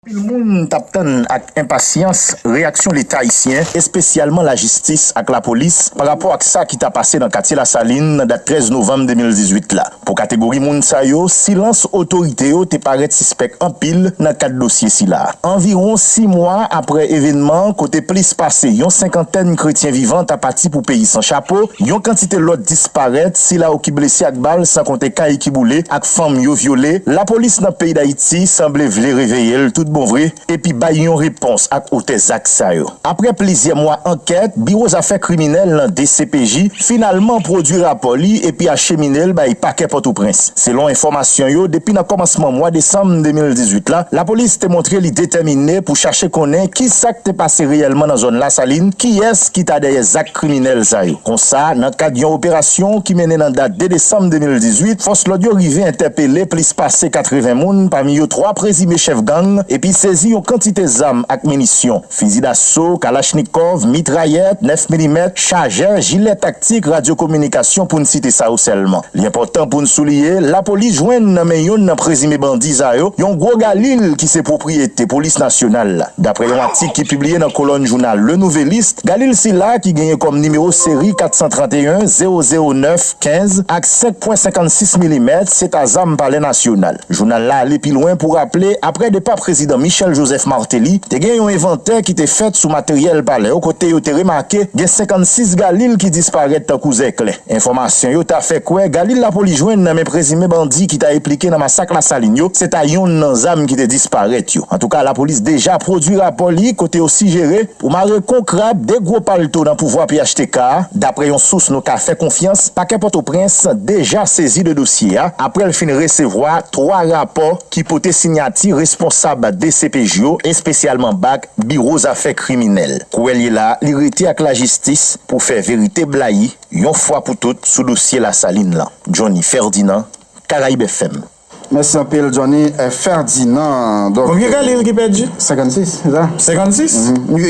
Anpil moun t ap tann ak enpasyans reyaksyon Leta ayisyen, espesyalman lajistis ak lapolis, pa rapò ak sa ki ta pase nan katye Lasalin nan dat 13 novanm 2018 la. Pou kategori moun sa yo, silans otorite yo te parèt sispèk anpil nan kad dosye sila. Anviwon 6 mwa aprè evènman an kote plis pase yon senkantèn kretyen vivan ta pati pou peyi san chapo, yon kantite lòt disparèt, sila ou ki blese ak bal san konte kay ki boule ak. fanm yo vyole, lapolis nan peyi Dayiti sanble vle reveye l tout bon vre epi bay yon repons ak otè zak sa yo. Aprè plizyè mwa ankèt, Biwo Zafè Kriminèl nan dcpj finalman pwodui rapò li epi achemine l bay Pakè Pòtoprens. Selon enfòmasyon yo, depi nan kòmansman mwa desanm 2018 la, lapolis te montre li detèmine pou chache konnen ki sa k te pase reyèlman nan zòn Lasalin, kiyès ki ta dèyè zak. kriminèl sa yo. Konsa, nan kad yon operasyon ki mennen nan dat 2 desanm 2018, fòs lòd yo rive entèpele plis pase 80 moun, pami yo 3 prezime chèf gang, epi sezi yon kantite zam ak minisyon, fizi daso, kalachnikòv, mitrayèt, 9 milimèt, chajè, jilè taktik, radyokominikasyon, pou n site sa yo sèlman. Li enpòtan pou n souliye, lapolis jwenn nan men youn nan prezime bandi sa yo, yon gwo galil ki se pwopriyete polis nasyonal la. Daprè yon atik ki pibliye nan kolòn jounal Le Nouvelliste, galil sila ki genyen kòm nimewo seri 431 009 15 ak 5 pwen 56 milimèt se ta zam palè nasyonal. Jounal la ale pi lwen pou raple aprè depa prezidan Michel Joseph Martelly, te gen yon envantè ki te fèt sou materyèl palè kote yo te remake gen 56 galil ki disparèt tankou zèklè. Enfòmasyon yo ta fè kwè galil lapolis jwenn nan men prezime bandi ki ta eplike nan masak Lasalin yo se ta yonn nan zam ki te disparèt yo. Antouka lapolis deja pwodui rapò li kote yo sijere pou mare kon krab 2 gwo palto nan pouvwa phtk a. Daprè yon sous nou ka fè konfyans, pakè Pòtoprens deja sezi de dosye a aprè l fin resevwa 3 rapò ki pote sinyati responsab dcpj yo espesyalman bak, Biwo zafè kriminèl. Kouwè l ye la a, li rete ak lajistis pou fè verite blayi yon fwa pou tout sou dosye Lasalin lan. Johnny Ferdinand, Caraibefm. Mèsi anpil Johnny Ferdinand. Konbyen galil ki pèdi? 56 se sa? 56?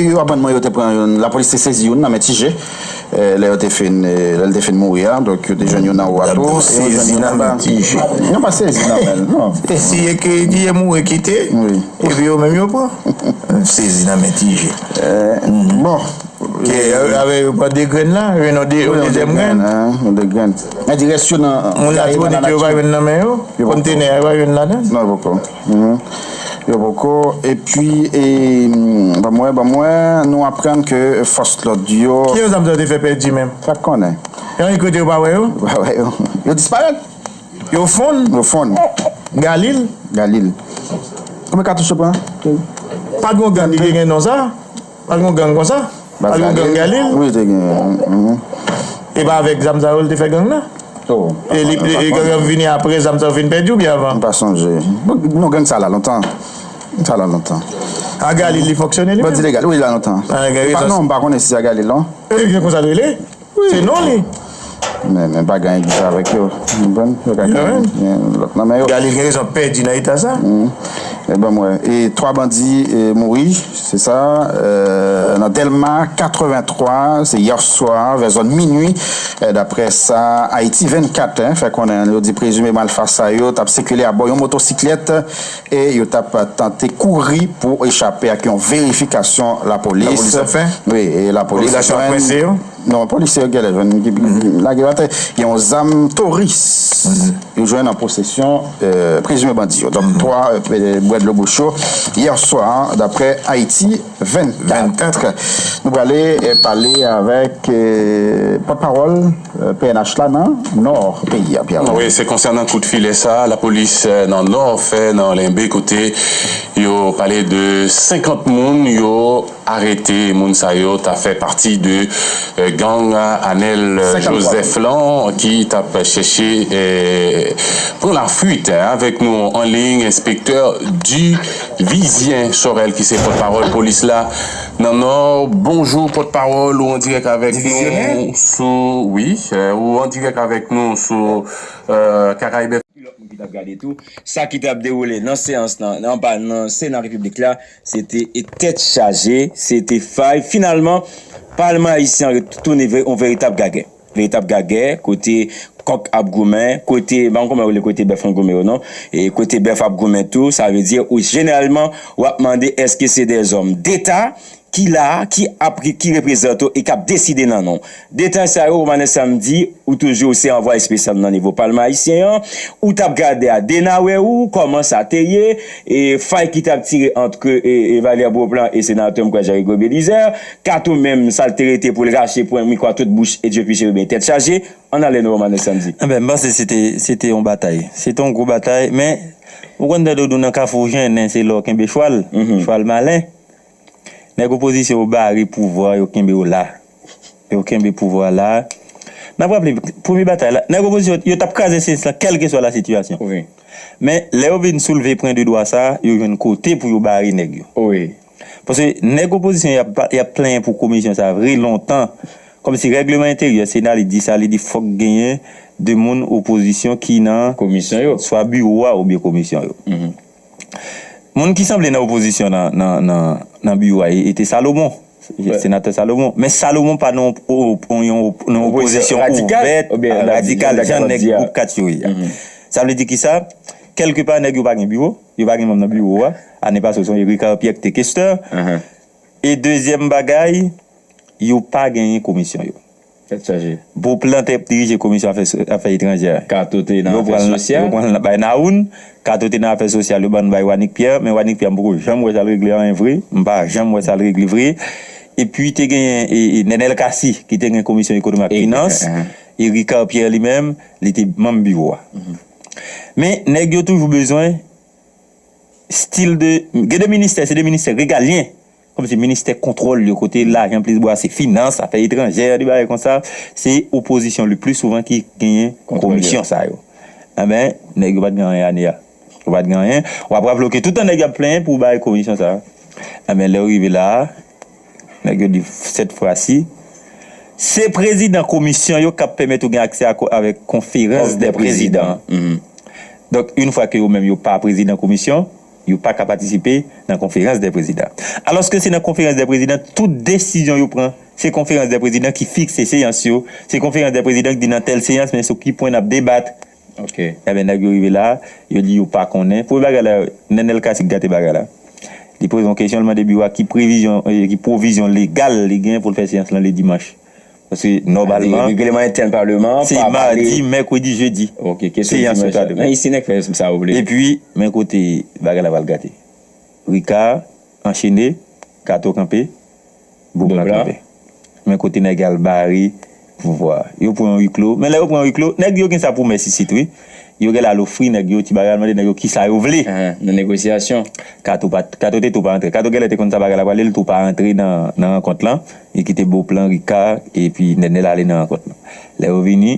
Yo aprann mwen yo te pran youn, lapolis te sezi youn nan men Ti Je. Lè yo te fin, lè l te fin mouri a, donk yo te jwenn youn anwo a tou, e yo jwenn youn anba. Yo pa sezi nan men l, non. E si e ke di e mouri kite, epi yo menm yo pran? Sezi nan men ti je. Bon. Ke avè yo pran 2 grenn la, yo jwenn yon 2 yon dezyèm grenn. Yon 2 grenn. Men di rès yo nan. Moun latibonit yo pa jwenn nan men yo? Kontenè a yo pa jwenn ladan l? Non, poko. Yo poko epi e banm wè banm wè nou aprann ke fòs lòd yo. Ki yon zam sa yo te fè pèdi menm? Pat konnen. Yon yon kote yo pa wè yo? Yo pa wè yo. Yo disparèt. Yo fonn. Yo fonn. Galil. Galil. Konbyen katouch yo pran? Pat gon gang ki te gen non sa? Pat gen yon gang konsa? Pat gen yon gang Galil? Wi te gen yon. E pa avèk zam sa yo li te fè gang nan? Oh. E li e gang yo vini aprè zam sa yo fin pèdi oubyen avan? M pa sonje. Non gang sa la lontan. Sa la lontan. A Galil li fonksyone li menm? Bandi legal wi li la lontan. Gen rezon. Non m pa konnen si se a Galil non. E gen konsa l rele? Se non li. Men men pa gen egzit avèk yo. Mwen pran. Yo ka gen lòt nan men yo. Galil gen rezon pèdi nan eta sa. E banm wè. E 3 bandi mouri. Se sa. Nan Delma 83. Se yè swa vè zòn minui. Daprè sa Ayiti 24 fè konnen. Yo di prezime malfasa yo tap sikile abò yon motosiklèt. e yo t ap tante kouri pou echape ak yon verifikasyon lapolis ap fè, wi, e lapolis jwenn, polisye yo gèlè jwenn, lage yo atè, gen yon zam Taurus yo jwenn an posesyon prezime bandi yo, donk 3 bwè dlo bouch yo yè swa daprè Ayiti 24. Nou prale pale avèk pòtpawòl. pnh la nan Nò peyi a, Pierre. Wi, se konsènan kout filè sa a lapolis nan Nò fè nan Lenbe kote yo pale de 50 moun yo arete. Moun sa yo ta fè pati de gang Anèl Jozèf lan ki t ap chèche pran lafuit. Avèk nou anliy enspektè Divizyen Sorèl ki se pòtpawòl polis la. Nan nò bonjou pòt pawòl ou andirèk avèk nou sou wi ou andirèk avèk nou sou kakaibèf. Ki lòt moun ki tap gade tou sa ki tap dewoule nan seyans lan anba nan sena repiblik la se te tèt chaje se te fay finalman palman ayisyen an retounen yon veritab gagè. Veritab gagè, kote kòk ap goumen, kote, m pa konn kòman yo rele kote bèf lan goumen yo non, e kote bèf ap goumen tou, sa vle di ou jeneralman w ap mande èske se de zòm deta ki la a, ki ap, ki reprezante w e k ap deside nan non w. Detan sa yo, Romanes Samedi, ou toujou se anvwaye espesyal m nan nivo palman ayisyen an, ou t ap gade a Denawè ou, kòman sa te ye, e fay ki t ap tire antre Valère Beauplan e senatè m kwè Jean Rigaud Bélizaire, Kato menm sal te rete poul rache pwen mikro a tout bouch e dye pi cheriben tèt chaje an ale nou romane sandy. Enben m panse se te se te yon batay se te yon gwo batay men ou konn tande yo di w nan kafou ou jennen se la w kenbe chwal chwal malen nèg opozisyon yo bare pouvwa yo kenbe yo la yo kenbe pouvwa a la n ap raple premye batay la nèg opozisyon yo t ap kraze cns lan kèlkeswa la sitiyasyon men lè yo vin soulve pwen de dwa sa yo jwenn kote pou yo bare nèg yo. Paske nèg opozisyon yo ap plenyen pou komisyon sa vre lontan. Kòmsi règleman enteryè sena li di sa, li di fòk genyen 2 moun opozisyon ki nan komisyon yo, swa biwo a oubyen komisyon yo. Moun ki sanble nan opozisyon nan biwo a e te Salomon, senatè Salomon. Men Salomon pa nan yon opozisyon ouvèt, radikal jan nèg gwoup 4 yo ye a. Sa vle di kisa, kèlke pa nèg yo pa gen biwo. Yo pa gen manm nan biwo a. Ane pase yo sonje Ricard Pierre ki te kestè. E dezyèm bagay, yo pa genyen komisyon yo. Tèt chaje. Beauplan te dirije komisyon afè etranjè. Kato te nan afè sosyal. Yo pran l bay Nawoun. Kato te nan afè sosyal, yo ban l bay Wanick Pierre. Men Wanick Pierre m poko janm wè sa l regle anyen vre. M pa janm wè sa l regle vre. Epi te genyen Nenel Cassy ki te gen komisyon ekonomi ak finans. E Ricard Pierre li menm, li te manm biwo a. Men nèg yo toujou bezwen stil de gen de ministè se de ministè regalyen kòm se ministè kontwòl yo kote lajan plis bwase finans afè etranjè de bagay konsa se opozisyon le pli souvan ki genyen komisyon sa yo enben nèg yo pat gen anyen ane a yo pat gen anyen wap rap lòke toutan nèg yo ap plenyen pou bay komisyon sa enben lè yo rive la a. Nèg yo di sèt fwa si. Se prezidan komisyon yo kap pèmèt ou gen aksè avèk konferans dè prezidan. Donk yn fwa ke yo menm yo pa prezidan komisyon, yo paka patisipe nan konferans dè prezidan. Alòske se nan konferans dè prezidan tout desizyon yo pran. Se konferans dè prezidan ki fikse seyans yo, se konferans dè prezidan ki di nan tèl seyans men sou ki pwen nap debat. Ok enben nèg yo rive la yo di yo pa konnen premye bagay la Nenel Cassy k gate bagay la li poze yon kesyon li mande biwo a ki previzyon ki pwovizyon legal li gen pou l fè seyans lan le dimanch paske nòmalman regleman entèn paleman se madi mèkredi jedi ok kesyon seyans yo ta demen men isi nèg fè sa yo vle epi men kote bagay la pral gate Ricard anchene Kato kanpe. Boom la kanpe. Men kote nèg al bare pouvwa. Yo pran wi klo. Men lè yo pran wi klo, nèg yo gen sa pou mès isit wi. Yo genlè al ofri nèg yo ti bagay, al mande nèg yo kisa yo vle. Nan negosyasyon. Kato pa, Kato te tou pa antre. Kato genlè te konn sa bagay la prale, li tou pa antre nan nan rankont lan. Li kite Beauplan, Ricard epi Nènèl ale nan rankont lan. Lè yo vini.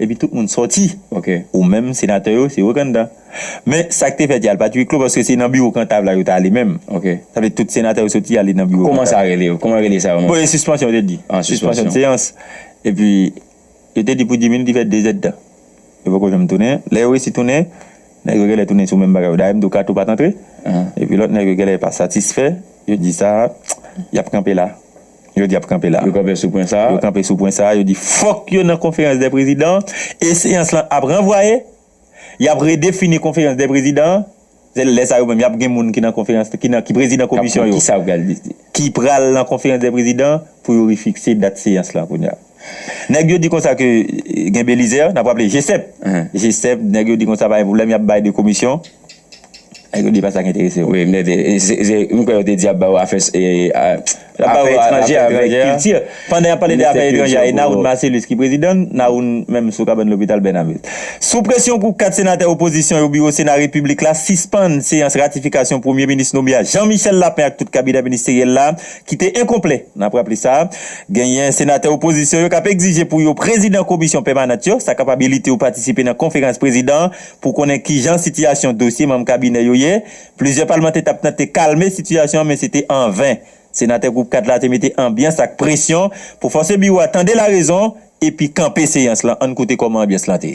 Epi tout moun sòti. Ok. Ou menm senatè yo se yo k anndan. Men sa k te fèt ya l pa t ui klo paske se nan biwo Kantav la yo t ale menm. Ok. Sa vle di tout senatè yo soti ale nan biwo Kantav. Kouman sa rele? Kouman rele sa yo menm? Bon e sispansyon yo te di. Ah sispansyon. Sispansyon seyans. Epi yo te di pou Djimmy li te fè dezèdtan. Yo poko janm tounen. Lè yo resi tounen, nèg yo genlè tounen sou menm bagay yo. Dayè m di w Kato pa t antre. Epi lòt nèg yo genlè pa satisfè. Yo di sa a, y ap kanpe la. Yo di y ap kanpe la. Yo kanpe sou pwen sa a. Yo kanpe sou pwen sa a. Yo di fòk yo nan konferans dè prezidan e seyans lan ap ranvwaye. Y ap redefini konferans dè prezidan an. Se lè sa yo menm y ap gen moun ki nan konferans, ki nan, ki prezidan komisyon yo. K ap konn ki sa yo pral deside. Ki pral nan konferans dè prezidan pou yo refikse dat seyans lan kounye a. Nèg yo di konsa ke gen Belizè, n ap raple G-sep. G-sep, nèg yo di konsa pa gen pwoblèm y ap bay 2 komisyon. Nèg yo di pa sa k enterese yo. Wi, m tande. M kwè yo te di y ap ba ou afè etranjè avèk kilti. Pandan y ap pale de afè etranjè a, e Nawoun Marcellus ki prezidan l? Nawoun menm sou kabann lopital Bènamil. Sou presyon gwoup 4 senatè opozisyon yo biwo Sena Repiblik la sispann seyans ratifikasyon premye minis nome a Jean Michel Lapin ak tout kabinè ministeryèl la ki te enkonplè. N ap raple sa genyen senatè opozisyon yo k ap egzije pou yo prezidan komisyon pèmanant yo, sa kapabilite yo patisipe nan konferans prezidan. Pou konnen kijan sitiyasyon dosye manm kabinè yo ye, plizyè palmantè t ap tante kalme sitiyasyon an men se te an ven. Senatè Gwoup 4 la te mete anbyans ak presyon pou fòse biwo a tande larezon epi kanpe seyans lan. Ann koute kòman anbyans lan te.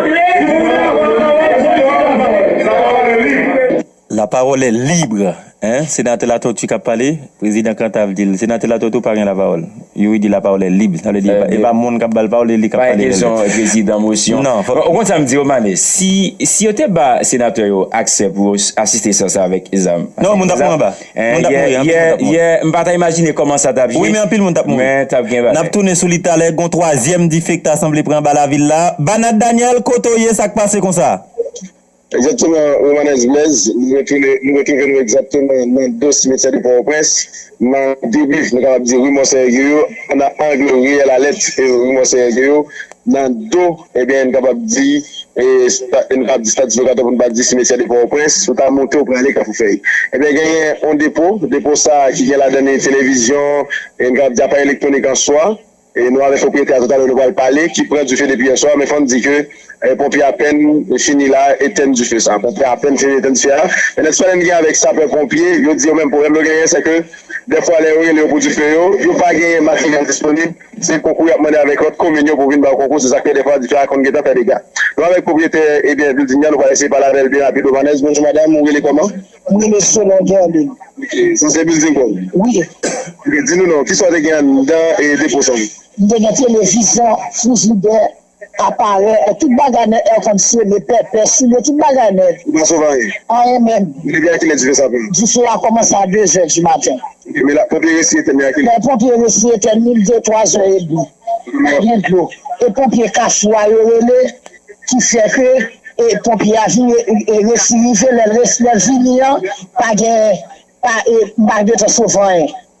La parole est libre Senatè Latortue k ap pale, prezidan Cantave di l Senatè Latortue ou pa gen lapawòl Youri di la parole est libre sa vle di e pa moun k ap ba l pawòl e li k ap pale rele. Pa gen kesyon prezidan mosyon Nan fòk Ou konn sa m di yo Male si yo te ba senatè yo aksè pou yo asiste seyans la avèk zam Non moun t ap mouri anba. Moun tap mouri, anpil moun tap mouri. Yeah, yeah, m pa ta imajine kòman sa tap ye. Wi men anpil moun tap mouri. Men tap gen bagay. Nap tounen sou li talè, gon twazyèm dife ki ta sanble pran anba lavil la. Banat Daniel, kote w ye, sa k pase konsa? Egzakteman Romanès Blaise, nou retounen, nou retwouve nou egzakteman nan Dos Simetiè de Port-au-Prince, nan debi nou kapab di Rue Monseigneur Gueyo, nan angle Riyèl Alèt e Rue Monseigneur Gueyo, Nan do, ebyen n kapab di nou ka di statis lokatè pou n pa di simetyè de Pòtoprens, si w ta monte ou prale Kafoufèy ebyen genyen yon depo, depo sa a ki gen ladan li televizyon e n kapab di aparèy elektwonik an swa e nou avèk pwopriyetè a toutalè nou pral pale ki pran dife depi yè swa men fò n di ke ponpye apèn fini la etèn dife sa a, ponpye apèn fini etèn dife a e nan ti pale n gen avèk sapè ponpye yo di yo menm pwoblèm yo genyen se ke dèfwa lè yo rele yo pou dife yo, yo pa genyen materyèl disponib. Se konkou y ap mande avèk lòt komin yo pou vin ba yo konkou, se sa k fè dèfwa diferan konn gentan fè dega. Nou avèk pwopriyetè ebyen bilding nan, nou pral eseye pale avè l byen rapid. Romanès, Bonjou madam, ou rele kòman? M rele Solange Hermine. Ok, sa se bilding pa w? Wi. Ok, di nou non, kisa w te gen anndan depo san w? M te gen televizyon, frijidè, Aparè è tout bagay men è kondsyone, pèpè, soulye tout bagay men. Ou pa sove anyen. Anyen menm. Depi a kilè dife sa ap pran? Dife a kòmanse a dezè di maten. Ok men la ponpye resi etèn li a kilè? Lè ponpye resi etèn li li de twa zè edmi. Pa gen dlo. E ponpye kafou a yo rele ki fè ke e ponpye a vin e resi rive lè l resi lè l vini an pa gen pa e m pa gen tan sove anyen.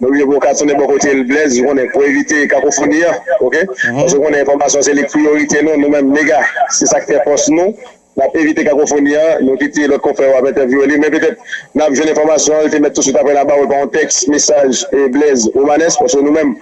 Mwen vle pou w ka tounen bò kote l Blèz, ou konnen, pou evite kakofoni an, ok? Paske ou konnen enfòmasyon se li k priyorite nou, nou menm mega, se sa k fè fòs nou. N ap evite kakofoni an, nou kite lòt konfrè yo ap entèvyouwe li, men petèt n ap jwenn enfòmasyon an, l te mèt touswit apre n ap ba ou l pa yon tèks, mesaj, Blèz, Romanes, paske nou menm,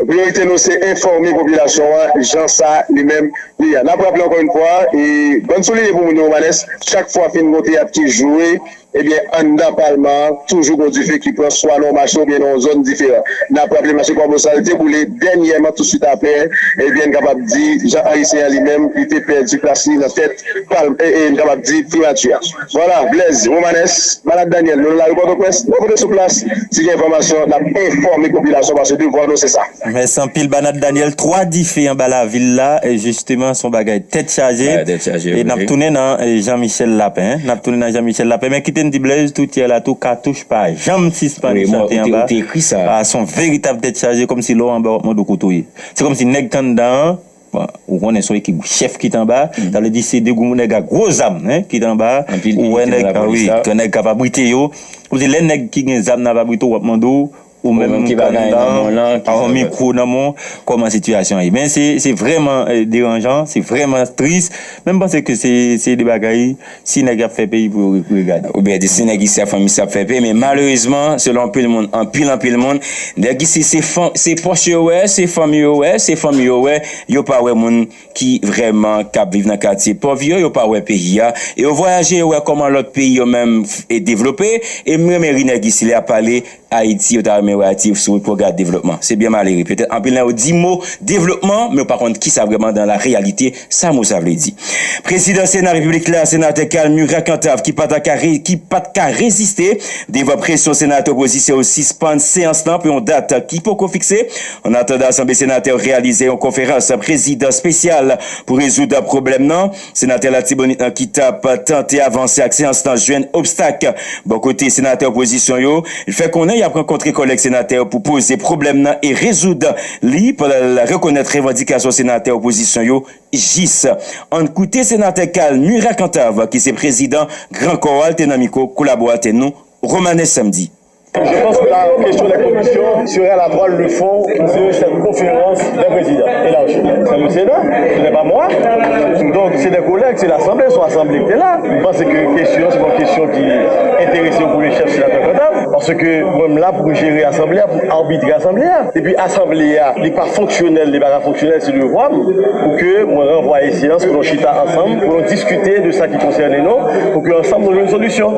priyorite nou se enfòme popilasyon an jan sa li menm li ye. N ap raple ankò yon fwa, e bann souliye pou moun yo Romanes, chak fwa fin gon teyat ki jwe, Ebyen anndan palman an toujou gon dife ki pran swa nan yon mache oubyen nan yon zòn diferan. N ap raple mache Kwabosal sa li te boule dènyèman tousuit apre ebyen n kapab di Jean Henry Céant li menm li te pèdi plas li nan tèt palm ee n kapab di primati a. Vwala Blaise Romanes, Malad Daniel nou nan lari Pòtoprens, nou pote sou plas si gen enfòmasyon n ap enfòme popilasyon paske devwa nou se sa. Mèsi anpil Banat Daniel 3 dife anba lavil la jisteman son bagay tèt chaje e nap tounen nan Jean Michel Lapin nap tounen nan Jean Michel Lapin men kite m di Blaise tout yè la tou katouch pa janm sispann chante anba a son veritab tèt chaje kòmsi lè w anba wap mande w kote w ye se kòmsi nèg k anndan an bon ou konnen son ekip chèf ki t anba sa vle di se de gwo nèg a gwo zam ki t anba a ou wè nèg a wi nèg k ap abrite yo kòmsi lè nèg ki gen zam nan ap abrite w wap mande w Ou menm ki pa gen anyen nan men w lan, ki pa gen mikwo nan men w, kòman sitiyasyon an ye? Men se vrèman deranjan, se vrèman tris, men m panse ke se de bagay si nèg ap fè peyi pou yo regade. Oubyen di si nèg isi ap fè m isi ap fè peyi, men malerezman selon anpil moun, anpil anpil moun, nèg isi se pòch yo wè, se fanmi yo wè, se fanmi yo wè, yo pa wè moun. ki vrèman k ap viv nan katye pòv yo, yo pa wè peyi a, e yo vwayaje yo wè kòman lòt peyi yo menm devlope, e m renmen ri nèg isi lè y ap pale Ayiti yo ta renmen wè Ayiti sou wout pou yo gade devlopman, se byen malere petèt anpil nan yo di mo devlopman men yo pa konn kisa vrèman dan la reyalite sa mo sa vle di. Prezidan Sena Repiblik la, Senatè Carl Murat Cantave ki pa ta ka ki pa t ka reziste devan presyon senatè opozisyon yo sispann seyans lan pou yon dat ki poko fikse, Ann atandan Asanble Senatè yo reyalize yon konferans prezidan espesyal pou rezoud pwoblèm nan, Senatè Latibonit lan ki tap tante avanse ak seyans lan jwenn obstak bò kote Senatè opozisyon yo. Li fè konnen yap rankontre kòlèg Senatè yo pou poze pwoblèm nan e rezoud li pandan l rekonèt revandikasyon Senatè opozisyon yo jis. Ann koute Senatè Carl Murat Cantave ki se prezidan Gran Kò a te nan mikwo kolaboratè nou Romanes Samedi. Je pense que la question des commissions sera la toile de fond de cette conférence des présidents élargie. C'est le Sénat, ce n'est pas moi. Donc c'est des collègues, c'est l'Assemblée, son Assemblée qui est là. M panse que question se pon question ki enterese yon premye chèf senatè Cantave parce que mwen m la pou m jere Assemblée a, pou m arbitre Assemblée a. E pi Assemblée a li pa fonksyonèl, li pa ka fonksyonèl, se devwa m pou ke mwen ranvwaye seyans pou nou chita ansanm, pou nou diskite de sa ki konsène nou, pou ke ansanm nou jwenn solisyon.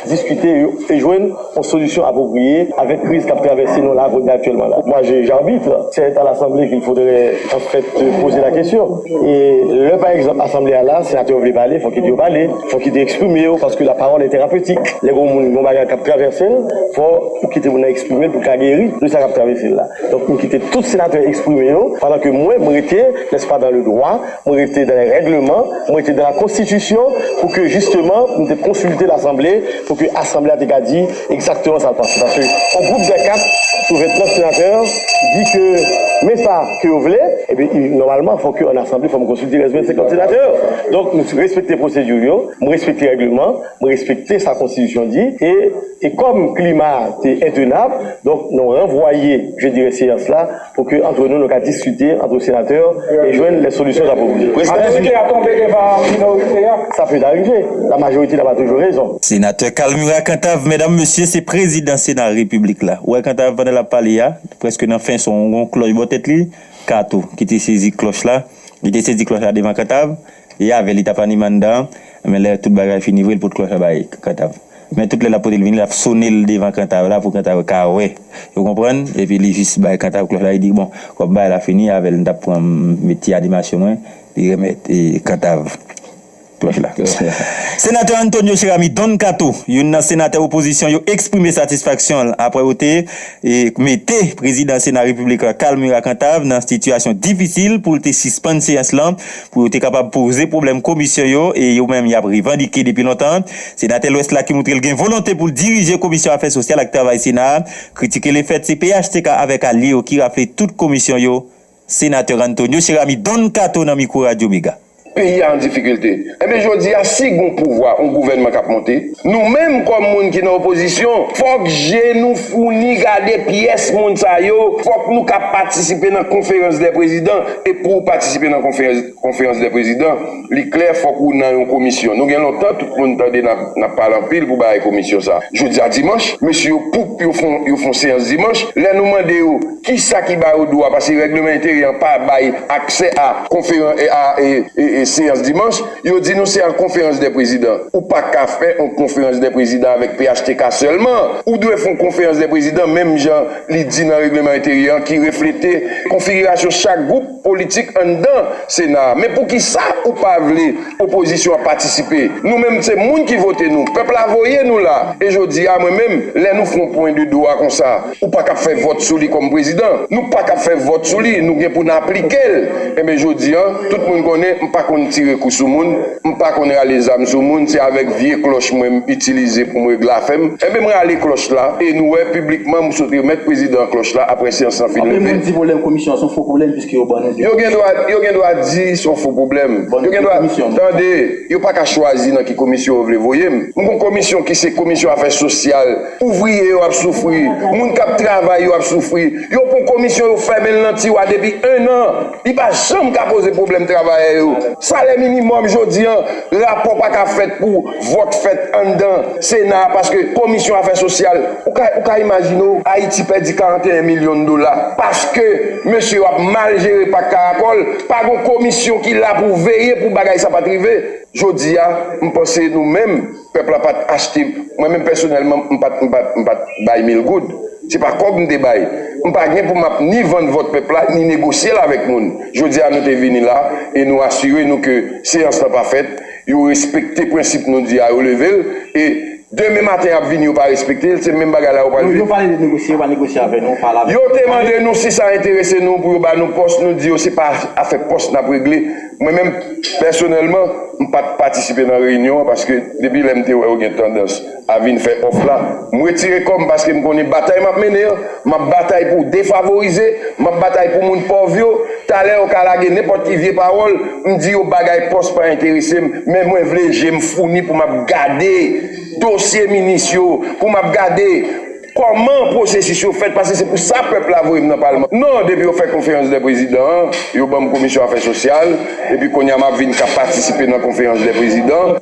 diskite yo e jwenn yon solisyon apwopriye avèk kriz k ap travèse nou laVODNE aktyèlman la. Mwa jij arbit, se eta lasanble ke l foudre an fèt poze la kesyon. E lè pa egzanp asanble a la, senatè yo vle pale, fòk yo di yo pale, fòk yo di eksprime yo paske la pawòl e terapetik. Lè gen yon moun gen bagay k ap travèse l, fò ou kite moun nan eksprime l pou l ka geri de sa k ap travese l la. Donk m kite tout senatè eksprime yo pandan ke mwen m rete, nèspa, dan le dwa. Mwen rete dan lè règleman, mwen rete dan la konstitisyon pou ke jisteman nou te konsilte lasanble pou ke asanble a te ka di egzakteman sa l panse. Paske yon gwoup dè 4 sou 29 senatè di ke men sa ke yo vle, ebyen nòmalman fò ke an asanble fò m konsilte rès 25 lòt senatè yo. Donk nou respekte pwosedi yo, mwen respekte règleman, mwen respekte sa konstitisyon di e e kòm klima a te entenab donk nou ranvwaye je dirè seyans la Pou ke antre nou nou ka diskite antre senatè e jwenn lè solisyon sa pwopoze. Majorite a tonbe devan minorite a. Sa peut arrive. La majorite n'a pas toujours raison. Senatè Carl Murat Cantave medam mesye se prezidan sena repiblik la ou wè Cantave pandan lap pale ya li prèske nan fen son gon klòch bò tèt li Kato ki te sezi klòch la li te sezi klòch la devan Cantave E avè li t ap anime anndan an, men lè tout bagay fini vre, li pot ko fè bay Kantav. Men tout lè l ap pote l vini, l ap sone l devan Kantav la pou Kantav ka wè. Ou konprann? Epi li jis bay Kantav klòch la, li di, Bon, kòm bagay la fini, avè l m t ap pran met ti animasyon mwen. Li remèt Kantav klòch la. Senatè Antonio Cheramy Don Kato, youn nan senatè opozisyon yo eksprime satisfaksyon l apre yo te mete prezidan sena repiblik la Carl Murat Cantave nan sitiyasyon difisil pou l te sispann seyans lan pou yo te kapab poze pwoblèm komisyon yo e yo menm y ap revandike depi lontan an. Senatè Lwès la ki montre l gen volonte pou l dirije Komisyon Afè Sosyal ak Travay Sena a, kritike le fèt se phtk avèk alye yo ki rafle tout komisyon yo, Senatè Ranntonio Cheramy Don Kato nan mikwo Radyo Mega. Peyi a an difikilte. Enben jodi a si gon pouvwa, on gouvènman k ap monte, Nou menm kòm moun ki nan opozisyon, fòk je nou founi gade pyès moun sa yo, fòk nou ka patisipe nan konferans dè prezidan, e pou ou patisipe nan konferans dè prezidan, li klè fòk ou nan yon komisyon. Nou gen lontan tout moun tande n ap pale anpil pou bagay komisyon sa. Jodi a dimanch, mesye yo poup yo fon yo fon seyans dimanch, lè nou mande yo ki sa ki ba yo dwa, pase règleman enteryè an pa bay aksè a konferan a e e seyans dimanch, Yo di nou se an konferans dè prezidan. Ou pa ka fè on konferans dè prezidan avèk phtk sèlman. Ou dwe f'on konferans dè prezidan menm jan li di nan regleman enteryè an ki reflete konfigirasyon chak gwoup politik anndan sena a. Men poukisa ou pa vle opozisyon an patisipe? Nou menm se moun ki vote nou. Pèp la voye nou la. E jodi a mwen menm lè nou f'on pwen de dwa konsa. Ou pa kab fè vòt sou li kòm prezidan. Nou pa kab fè vòt sou li, nou gen pou n aplike l. Enben jodi an, tout moun konnen m pa konn tire kou sou moun, m pa konn rale zam sou moun, se avèk vye klòch mwen m itilize pou m regle afè m. Enben m rale klòch la e nou wè piblikman m sot remèt prezidan an klòch la apre syans lan fin leve. Anpil moun di pwoblèm komisyon an s on fo pwoblèm piske yo ban nou 2 komisyon. Yo gen dwa di s on fo pwoblèm. Yo gen dwa, tande, yo pa ka chwazi nan ki komisyon yo vle voye m. M gon komisyon ki se komisyon afè sosyal. Ouvriye yo ap soufri, moun kap travay yo ap soufri, yo pran komisyon yo fèmen l nan tiwa depi 1 an, li pa janm ka poze pwoblèm travayè yo. Salè minimòm jodi an, rapò pa ka fèt pou vòt fèt anndan sena a paske komisyon afè sosyal, ou ka ou ka imajine w Ayiti pèdi 41 milyon dola paske mesye yo ap mal jere pak karakòl, pa gon komisyon ki la pou veye pou bagay sa pat rive. Jodi a, m panse nou menm. Pèp la pat achte, mwen menm pèsonèlman m pat m pat m pat bay mil goud, se pa kòb m te bay. M pa gen pou m ap ni vann vòt pèp la ni negosye l avèk moun. Jodi a nou te vini la e nou asire nou ke seyans lan pa fèt, yo respekte prensip nou di a yo leve l e demen maten y ap vini yo pa respekte l, se menm bagay la yo pral vin. Yo pale de negosye, yo pa negosye avè nou, pale avè nou. Yo te mande nou si sa enterese nou pou yo ba nou pòs, nou di yo se pa afè pòs n ap regle. Mwen menm pèsonèlman, m pa t patisipe nan reyinyon an paske depi lè m te wè yo gen tandans a vin fè òf la, m retire kò m paske m konnen batay m ap mennen an, m ap batay pou defavorize, m ap batay pou moun pòv yo. Talè yo ka lage nenpòt ki vye pawòl, m di yo bagay pòs pa enterese m, men mwen vle je m founi pou m ap gade dosye minis yo, pou m ap gade. Kòman pwosesis yo fèt pase se pou sa pèp la voye m nan palman non depi yo fè konferans dè prezidan an yo banm komisyon afè sosyal epi kounya map vin ka patisipe nan konferans dè prezidan.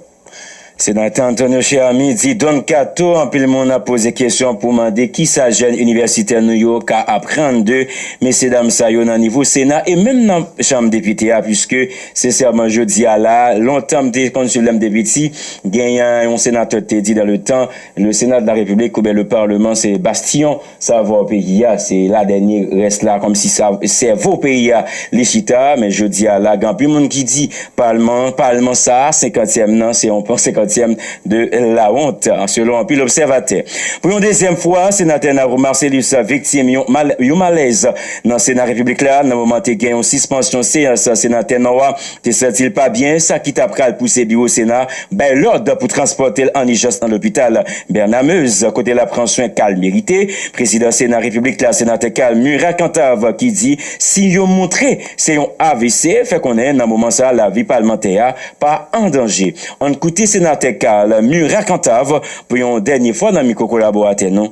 Senatè Antonio Cheramy di Don Kato anpil moun ap poze kesyon pou mande kisa jèn inivèsitè nou yo ka aprann de mesye dam sa yo nan nivo sena e menm nan chanm depite a puiske sensèman jodi a la lontan m te konn swiv lè m te piti gen yon senatè k te di dan le tan Le Sénat de la République oubyen le Parlement se bastyon savo peyi a, se la dènye rès la kòm si sa sèvo peyi a li chita, men jodi a la gen anpil moun ki di palman an, palman sa a senkantyèm nan se yon pon senkantyèm de lawont selon anpil obsèvatè. Pou yon dezyèm fwa Senatè Narou Marcellus viktim yon yon malèz nan Sena Repiblik la nan moman te gen yon sispansyon seyans Senatè Nò a te santi l pa byen, sa ki ta pral pouse biwo Sena bay lòd pou transpòte l an ijans nan lopital Bernard Meuze kote l ap pran swen ka l merite. Prezidan Sena Repiblik la, Senatè Carl Murat Cantave ki di siy yo montre se yon avc, fè konnen nan moman sa lavi palmantè a pa an danje. Ann koute Senatè Carl Murat Cantave pou yon dènye fwa nan mikwo kolaboratè nou.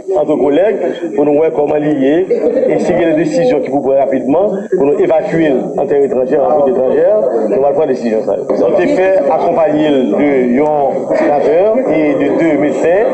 Antre kolèg pou nou wè kòman li ye e si gen de desizyon ki pou pran rapidman pou nou evakye l an tè etranjè, an Repiblik etranjè, nou pral pran desizyon sa yo. Nou te fè akonpanye l de yon senatè e de 2 medsen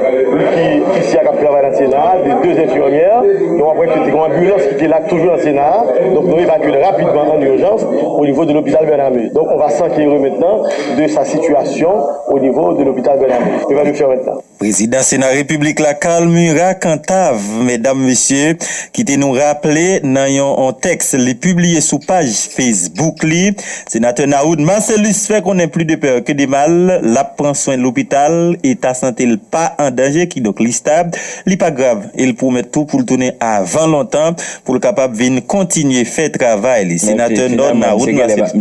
ki isi a k ap travay nan Sena a, de 2 enfimyè e w ap wè ke te gen yon anbilans ki te la toujou nan Sena a. Donk nou evakye l rapidman an urjans o nivo de lopital Bername. Donk on va s'enquerer maintenant de sa situation au niveau de l'hôpital Bername. Se sa nou fè maintenant. Prezidan Sena Repiblik la Carl Murat Cantave, medam, mesye, kite nou raple nan yon tèks li pibliye sou paj Facebook li, Senatè Nawood Marcellus fè konnen pli de pè ke de mal, l ap pran swen lopital, eta sante l pa an danje, kidonk li stab, li pa grav e l pwomèt tou pou l tounen avan lontan pou l kapab vin kontinye fè travay li. Senatè Nò Nawood Marcellus.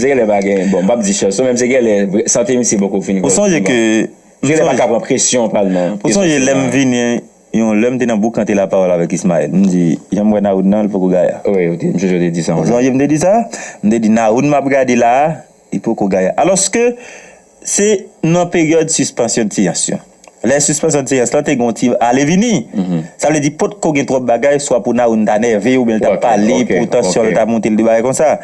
Ou sonje ke. Genlè pa ka pran presyon pa l nan. Ou sonje lè m vini yon lè m te nan boukante lapawòl avèk Ismaël m di jan m wè Nahoud nan l poko gaya. Wi ou te jodi ou te di sa yon lè. Ou sonje m te di sa? M te di Nahoud m ap gade la a li poko gaya. Alòske se nan peryòd sispansyon de seyans yo. Lè sispansyon de seyans lan te gen yon ti ale vini. Sa vle di potko gen twòp bagay swa pou Nahoud ta nève oubyen l ta pale pou tansyon l ta monte l de bagay konsa.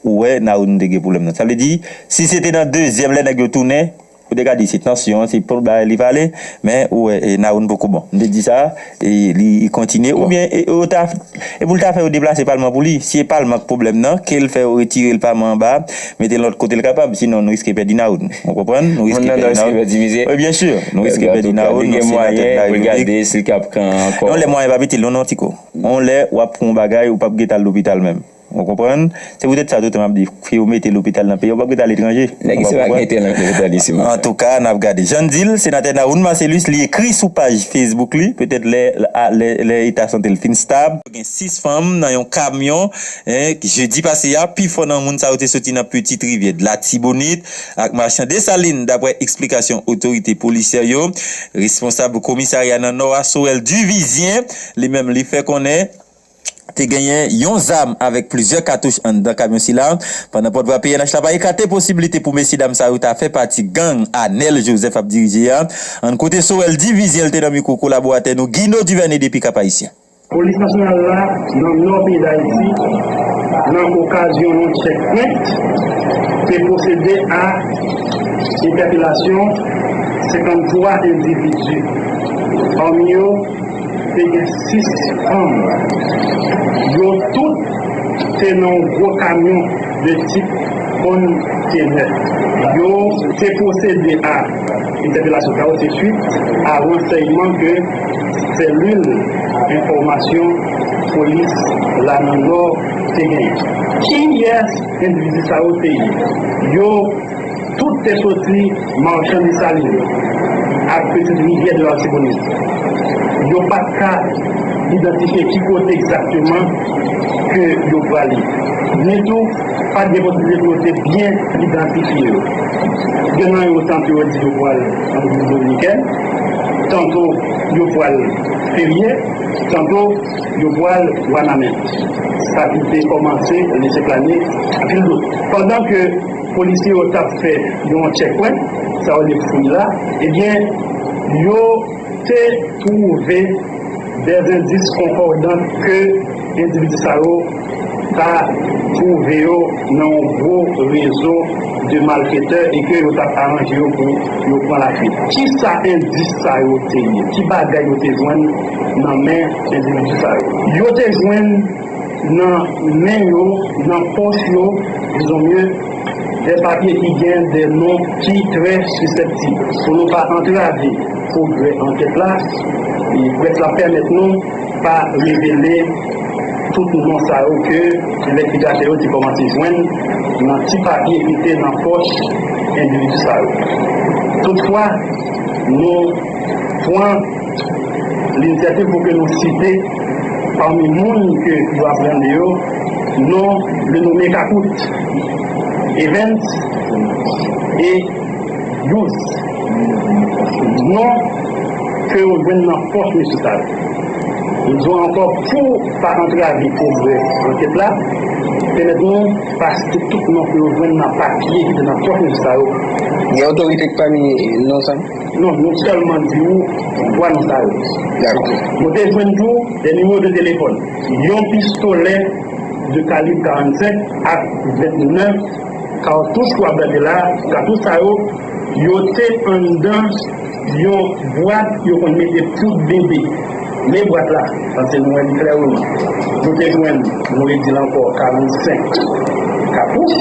Ou wè Nahoud m te gen pwoblèm nan. Sa vle di si se te nan dezyèm lè nèg yo tounen. Ou te ka di se tansyon an se pol bagay li pale men ou wè Nawoun poko bon m te di sa li kontinye oubyen yo ta e pou l ta fè yo deplase palman pou li si e palman k pwoblèm nan ke l fè yo retire l paman anba a mete l lòt kote l kapab sinon nou riske pèdi Nawoun ou konprann nou riske pèdi Nawoun wi byensi nou riske pèdi Nawoun li gen mwayen pou l gade si l ka pran ankò non lè mwayen pa pitil non non tiko on lè w ap pou on bagay ou p ap gen t al lopital menm. Ou konprann? Se pou tèt sa tou tan map di, ke yo mete lopital nan peyi an, yo pap k ret al etranje. Nèg isi pa k mete lopital isi pou sa. An tou ka, nap gade. Jan n di l, Senatè Nawoun Marcellus, li ekri sou paj Facebook li, petèt lè lè eta sante l fin stab, Yo gen 6 fanm nan yon kamyon jedi pase a, pi fò nan moun sa yo te soti nan Petite Rivière, de Latibonite ak Marchand Dessalines, daprè eksplikasyon otorite polisyè yo. Responsab komisarya nan Nò a, Sorel Duvizyen, li menm li fè konnen. Te genyen yon zam avèk plizyè katouch anndan kamyon sila. Pandan pòtvwa pnh la pa ekate posiblite pou mesyedam sa yo ta fè pati gang Anèl Jozèf ap dirije a, ann koute Sorel Divizyen l te nan mikwo kolaboratè nou Gino Duvène depi Kap-Ayisyen. Polis nasyonal la nan nò peyi Dayiti nan okazyon yon tchèkpwent te pwosede a entèpelasyon 53 endividi, pami yo. Te gen 6 fanm. Yo tout te nan yon gwo kamyon de tip konntenè. Yo te pwosede a entèpelasyon sa yo se swit a ransèyman ke Selil Enfòmasyon Polis la nan Nò te genyen. Kiyès endividi sa yo te ye? Yo. Tout te soti Marchand Dessalines ak Petite Rivière de l'Artibonite. Yo pa t ka idantifye ki kote egzakteman ke yo prale. Ni tou, pa t gen posiblite pou yo te byen idantifye yo. Gen nan yo tanto yo di yo pral an Repiblik Dominikèn, tanto yo pral Ferye, tanto yo pral Wanament. Sa ki te kòmanse lese plane anpil dout. Pandan ke. Polisye yo tap fè yon tchèkwè, sa yo rele fouy la, ebyen yo te twouve dè endis konkòdan ke endividi sa yo ta twouve yo nan yon gwo rezo de malfetè e ke yo tap aranje yo pou yo pran lafuit. Kisa endis sa yo te ye? Ki bagay yo te jwenn nan men endividi sa yo? Yo te jwenn. nan men yo, nan pòch yo, dizon mye, dè papye ki gen dè non ki trè sisèptib. Pou nou pa antrave pwogrè ankèt la, près la pèmèt nou pa revele tout non sa yo ke envèstigatè yo te kòmanse jwenn nan ti papye ki te nan pòch endividi sa yo. Toutfwa, nou pran. Li sèten pou ke nou site pami moun ke yo ap rande yo, non le nome Kakout, Evens e Yous. Non ke yo jwenn nan pòch mesye sa yo. Nou di w ankò pou pa antrave pwogrè ankèt la, pèmèt nou pa site tout non ke yo jwenn nan papye ki te nan pòch mesye sa yo. Gen otorite pami non sa? Non, nou sèlman di ou bwa non sa yo. Nou te jwenn tou 2 nimewo de telefòn, yon pistolè de kalib 45 ak 29 katouch ou ap gade la a. Katouch sa yo, yo te anndan yon bwat yo konn mete poud bebe. Men bwat la, paske nou wè li klè ou non. Nou te jwenn, nou redi l ankò, 45 katouch,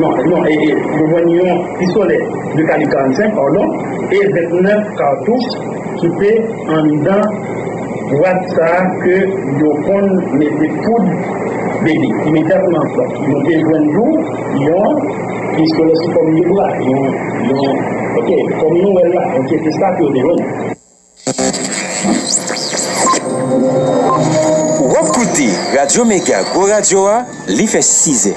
non, non, e, e, nou jwenn yon pistolè de kalib 45, padon, e 29 katouch ki te anndan bwat sa a ke yo konn mete poud bebe. Imedyatman, nou te jwenn tou yon pistolè sou fòm de bra, yon, yon, ok, kòm nou wè l la, ok, se sa ke yo te jwenn. Wap koute radyo mega gwo radyo a li fè 6 zè.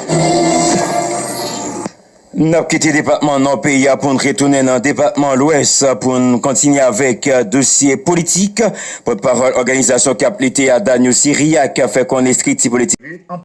Nap kite depatman nò peyi a poun retounen nan depatman lwès poun kontinye avèk dosye politik. Pòt pawòl òganizasyon kap lite a Daniel Siriac fè konnen estrikti politik li.